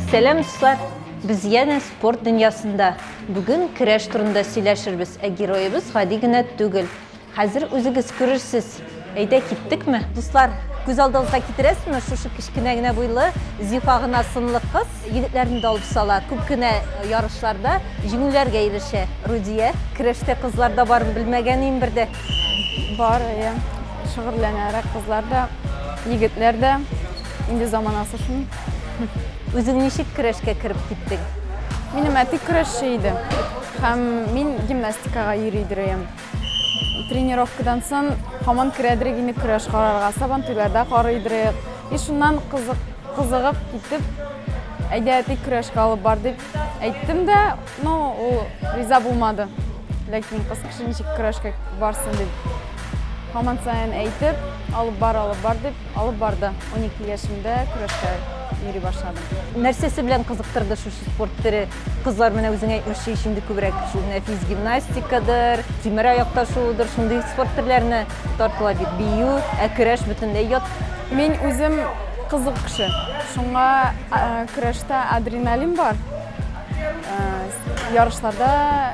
Сәлам, дуслар! Без янә спорт дөньясында. Бүген көрәш турында сөйләшербез, ә героебыз гади генә түгел. Хәзер үзегез күрерсез. Әйдә, киттекме? Дуслар, күз алдыгызга китерәсезме, шушы кечкенә генә буйлы, зифа гына сынлы кыз егетләрне дә алып сала, күп кенә ярышларда җиңүләргә ирешә. Рудия, көрәштә кызлар да барын белмәгән ием бер дә. Бар, әйе. Шөгыльләнәрәк кызлар да, егетләр дә. Инде заманасы шул. Үзең ничек көрәшкә кереп киттең? Минем әти көрәшче иде. Һәм мин гимнастикага йөри идем. Тренировкадан сон һаман керәдерек инде көрәш карарга, сабантуйларда карый идерек. И шуннан кызык, кызыгып китеп, әйдә әти көрәшкә алып бар дип әйттем дә, ну, ул риза булмады. Ләкин кыз кеше ничек көрәшкә барсын дип. Һаман саен әйтеп, алып бар, алып бар дип, алып барды. 12 яшемдә көрәшкә йөри башладым. Нәрсәсе белән кызыктырды шушы спорт төре? Кызлар менә үзең әйтмешчә ич инде күбрәк шул нәфис гимнастикадыр, тимер аякта шуыдыр, шундый спорт төрләренә тартыла бит. Бию, ә көрәш бөтенләй ят. Мин үзем кызык кеше. Шуңа көрәштә адреналин бар. Ярышларда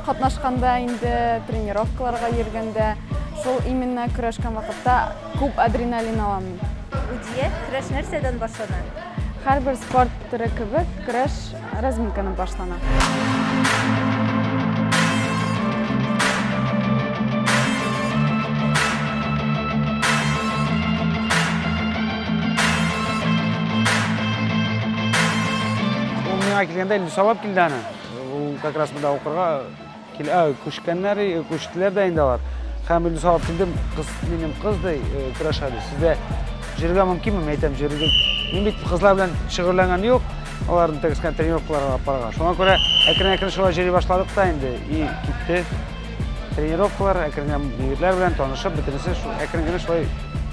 катнашканда инде, тренировкаларга йөргәндә, шул именно көрәшкән вакытта Күп адреналин аламын. Гудия, көрәш нәрсәдән башлана? Һәрбер спорт төре кебек, көрәш разминканы башлана. Ул миңа килгәндә инде сабап килде аны. Ул как раз монда укырга Килә, күчкәннәр, күчтеләр дә инде алар. Һәм инде сабап килдем, кыз, минем кыз ди, көрәшә ди. Сездә җөргә мөмкинме? Мин әйтәм, җөргә. Мин бит кызлар белән шөгыльләнгән юк. Аларны тек кенә тренировкаларга алып барырга. Шуңа күрә әкрен-әкрен шулай җөри башладык та инде. И китте. Тренировкалар әкрен генә егетләр белән танышып, бөтенесе әкрен генә шулай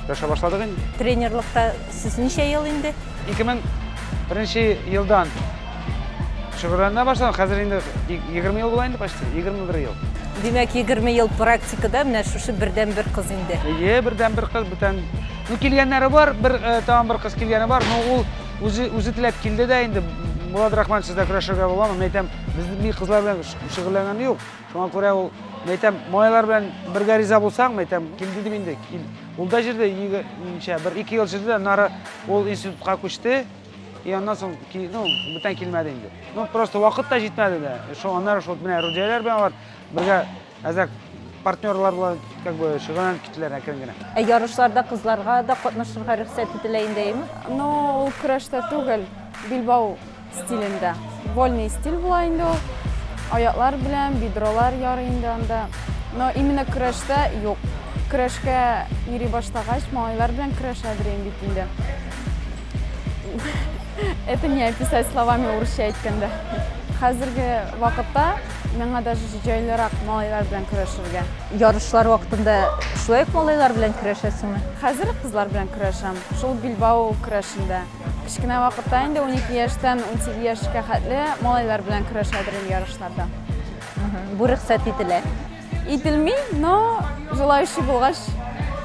көрәшә башладык инде. Тренерлыкта сез ничә ел инде? 2001 елдан Шөгыльләнә башлам, хәзер инде 20 ел була инде почти, 21 ел. Димәк, 20 ел практикада менә шушы бердән бер кыз инде. Ие, бердән бер кыз бүтән. Ну килгәннәре бар, бер э, тагын бер кыз килгәне бар, но ул үзе үзе теләп килде дә инде. Булат Рахман сездә көрәшергә буламы? Мин әйтәм, безнең ми кызлар белән шөгыльләнгән юк. Шуңа күрә ул, мин әйтәм, малайлар белән бергә риза булсаң, мин әйтәм, кил дидем инде. Кил. Ул да җирдә, ничә, бер ике ел җирдә, нары ул институтка күчте, И аннан соң, ну, бүтән килмәде инде. Ну, просто вакыт та җитмәде дә. Шул аннары шул менә Рудияләр белән алар бергә әзәк партнерлар белән как бы шөгыльләнеп киттеләр әкрен генә. Ә ярышларда кызларга да катнашырга рөхсәт ителә инде, әйме? Ну, ул көрәштә түгел, билбау стилендә. Вольный стиль була инде ул. Аяклар белән бедролар ярый инде анда. Но именно көрәштә юк. Көрәшкә йөри баштагач, малайлар белән көрәшә бирәм бит инде. Это не описать словами урысча әйткәндә. Хәзерге вакытта миңа даже җайлырак малайлар белән көрәшергә. Ярышлар вакытында шулай ук малайлар белән көрәшәсеңме? Хәзер кызлар белән көрәшәм. Шул Билбау көрәшендә. Кечкенә вакытта инде 12 яшьтән 18 яшькә хәтле малайлар белән көрәшә идем ярышларда. Бу рөхсәт ителә. Ителми, но желающий булгач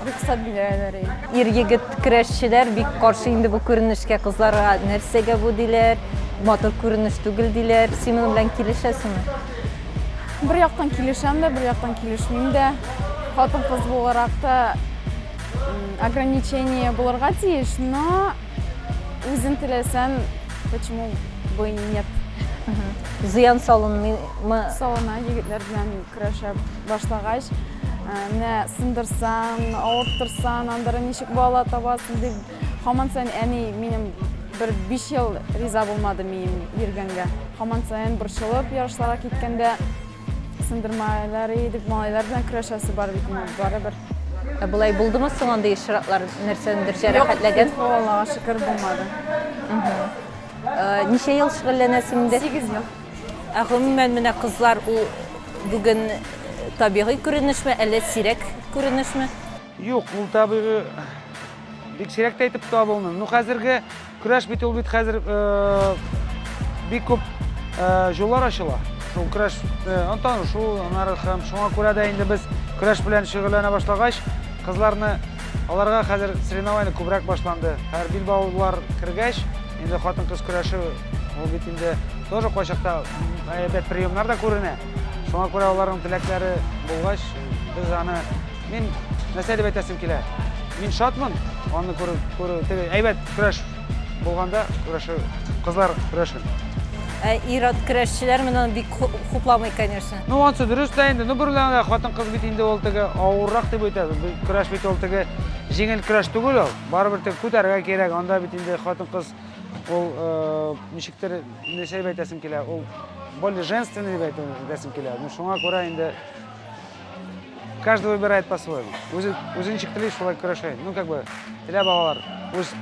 рөхсәт бирәләр. Ир егет крәшчеләр бик каршы инде бу күренешкә, кызларга нәрсәгә бу диләр, матур күренеш түгел диләр. Син моның белән килешәсеңме? Бер яктан килешәм дә, бер яктан килешмим дә. Хатын-кыз буларак та ограничение булырга тиеш, но үзен теләсән, почему бы и нет. Зыян салынмый Мы... Салына егетләр белән көрәшә башлагач, э, менә сындырсан, авырттырсан, андыры ничек бала табасың дип, хаман сайын әни минем бер биш ел риза булмады мием йөргәнгә. Хаман сайын борчылып ярышларга киткәндә сындырмайлар идек, малайлар белән көрәшәсе бар бит инде барыбер. Ә болай булдымы соң андый очраклар нәрсәдер җәрәхәтләгән? Юк, Аллага шөкер булмады. Ничә ел шөгыльләнәсең инде? 8 ел. Ә гомумән менә кызлар ул бүген табигый күренешме, әллә сирәк күренешме? Юк, ул табигый бик сирәк тә итеп табылмый. Ну хәзерге көрәш бит ул бит хәзер бик күп җоллар ачыла. Шул көрәш антан шул анары һәм шуңа күрә дә инде без көрәш белән шөгыльләнә башлагач, кызларны аларга хәзер соревнование күбрәк башланды. Һәр билбаулар кергәч, Инде хатын-кыз көрәше ул бит инде тоже кайчакта әйбәт приемнар да күренә. Шуңа күрә аларның теләкләре булгач, без аны мин нәрсә дип әйтәсем килә? Мин шатмын аны күрү, күрү теге әйбәт көрәш булганда көрәшү, кызлар көрәшен. Ә ир-ат көрәшчеләр менә бик хупламый, конечно. Ну, онсы дөрес тә инде. Ну, берләгә хатын-кыз бит инде ул теге авыррак дип әйтәбез. Көрәш бит ул теге җиңел көрәш түгел ул. Барыбер тек күтәрергә кирәк, анда бит инде хатын-кыз ул э, ничектер нәрсә дип әйтәсем килә, ул более женственный дип әйтәсем килә. Ну шуңа күрә инде каждый выбирает по-своему. Үзе үзенчә теләй шулай көрәшә. Ну как бы теләп алалар. Үз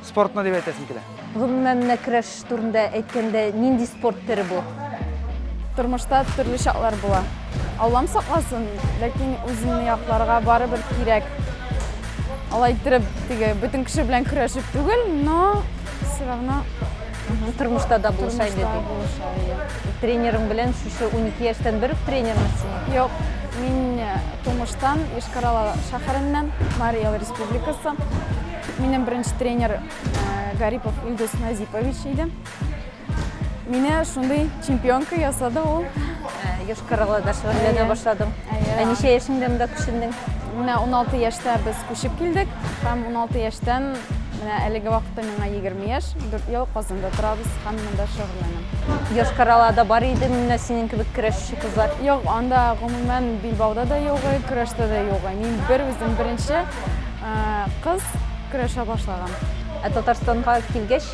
спортына дип әйтәсем килә. Гомумән, менә көрәш турында әйткәндә, нинди спорт төре бу? Тормышта төрле чаклар була. Аллам сакласын, ләкин үзеңне якларга барыбер кирәк. Алай иттереп, теге бөтен кеше белән көрәшеп түгел, но все равно Тормышта да булыша инде тормышта ди. булыша, иә. Тренерың белән шушы 12 яшьтән бер үк тренерың синең? Юк, мин э, тумыштан Йошкар-Ола шәһәреннән, Марий Эл республикасы. Минем беренче тренер Гарипов Илдус Назипович иде. Мине шундый чемпионка ясады ул. Йошкарала да шөгыльләнә башладым. Ә ничә яшеңдә монда күчендең? Менә 16 яшьтә без күчеп килдек һәм 16 яшьтән менә әлеге вакытта миңа 20 яшь, 4 ел Казанда торабыз һәм монда шөгыльләнәм. Йошкаралада бар иде менә синең кебек көрәшче кызлар? Юк, анда гомумән Билбауда да юк, көрәштә дә юк. Мин бер үзем беренче Кыз көрәшә башлаган. Ә Татарстанга килгәч,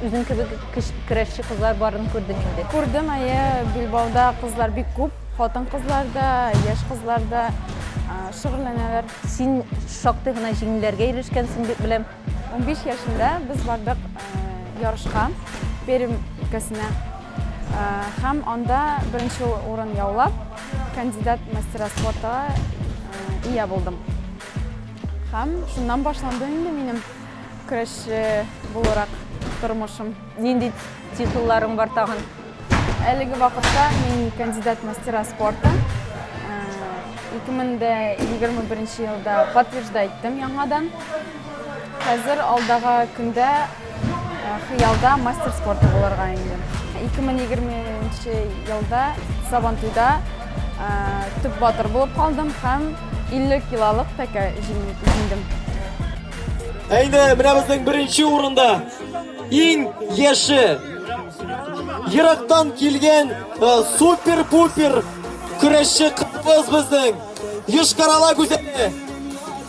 үзең кебек көрәшче кызлар барын күрдең инде. Күрдем, әйе, Билбауда кызлар бик күп. Хатын-кызлар да, яшь кызлар да шөгыльләнәләр. Син шактый гына җиңүләргә ирешкәнсең дип беләм. 15 яшендә без бардык ярышка Пермь өлкәсенә һәм анда беренче урын яулап, Кандидат мастера спорта ия булдым. Һәм шуннан башланды инде минем көрәшче буларак тормышым. Нинди титулларың бар тагын? Әлеге вакытта мин кандидат мастера спорта. 2021 елда подтверждайттым яңадан. Хәзер алдага көндә Хыялда мастер спорты булырга инде. 2020 елда Сабантуйда төп батыр булып калдым һәм 50 килолык тәкә җиңдем. Әйдә, менә безнең беренче урында иң яше ерактан килгән супер-пупер көрәшче кыз безнең Йошкарала гүзәле.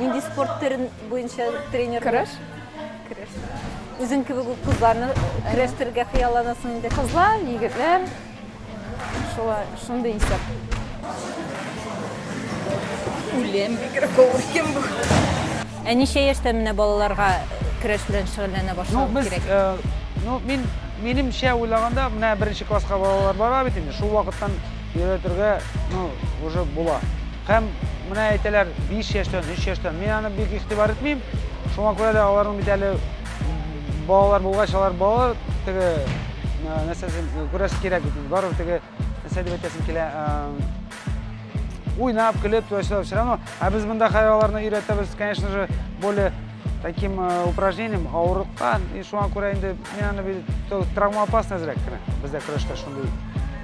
Нинди спорт төрен буенча тренер? Көрәш. Көрәш. Үзең кебек үк кызларны көрәштерергә хыялланасың инде. Кызлар, егетләр. Шулай, шундый исәп. Үлем бигрәк авыр икән бу. Ә ничә яшьтә менә балаларга көрәш белән шөгыльләнә Ну, башлау без, кирәк? э, ну, мин, минемчә уйлаганда, менә беренче класска балалар бара бит инде, шул вакыттан өйрәтергә, ну, уже була. Һәм менә әйтәләр, биш яшьтән, өч яшьтән. Мин аны бик игътибар итмим. Шуңа күрә дә аларның бит әле балалар булгач, алар балалар теге нәрсәсен күрәсе кирәк бит. Барыбер теге нәрсә дип әйтәсем килә. Уйнап, көлеп, тулачылар все равно. Ә без монда хәзер аларны өйрәтәбез, конечно же, более таким упражнением авырлыкка. И шуңа күрә инде мин аны травмоопасный әзрәк кенә. Бездә көрәштә шундый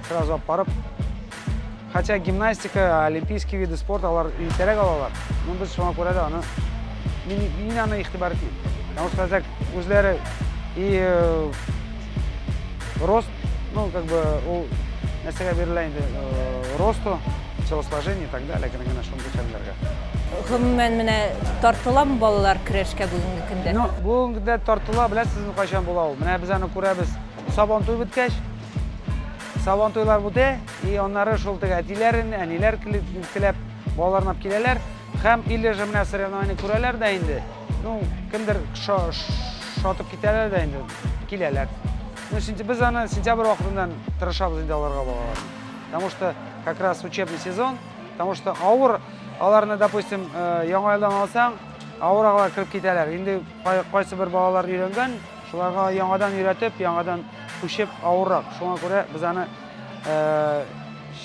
сразу алып барып Хотя гимнастика, олимпийский виды спорт алар иртәрәк алалар, но без шуңа күрә дә аны мин, мин аны игътибар итмим. Потому что так үзләре и э, рост, ну как бы ул нәрсәгә бирелә инде э, росту, телосложение и так далее, генә генә шундый хәлләргә. Гомумән менә тартыламы балалар көрәшкә бүгенге көндә? Ну, бүгенге көндә тартыла, беләсезме, кайчан була ул? Менә без аны күрәбез. Сабан туй беткәч, Сабантуйлар үтә, и аннары шул теге әтиләрен, әниләр килеп, балаларнап киләләр һәм или же менә соревнование күрәләр дә инде. Ну, кемдер шатып китәләр дә инде, киләләр. Ну, без аны сентябрь вакытыннан тырышабыз инде аларга балалар. Потому что как раз учебный сезон, потому что авыр аларны, допустим, э, яңа елдан алсаң, авыр алар киреп китәләр. Инде кайсы бер балалар өйрәнгән, Шуларга яңадан өйрәтеп, яңадан күчеп авыррак. Шуңа күрә без аны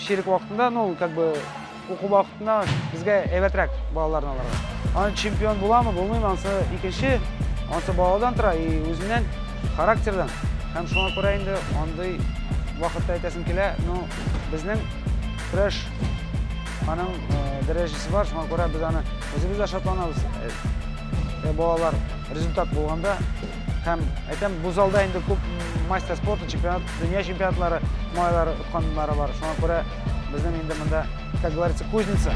чирек вакытында, ну, как бы, уку вакытында безгә әйбәтрәк балаларны аларга. Аны чемпион буламы, булмыймы, ансы икенче, ансы баладан тора, и үзеннән, характердан. Һәм шуңа күрә инде андый вакытта әйтәсем килә, ну, безнең көрәш аның дәрәҗәсе бар, шуңа күрә без аны үзебез дә шатланабыз, балалар результат болғанда, һәм әйтәм, бу залда инде күп мастер спорты, чемпионат, дөнья чемпионатлары, малайлары отқанлары бар. Шуңа күрә безнең инде монда, как говорится, кузница.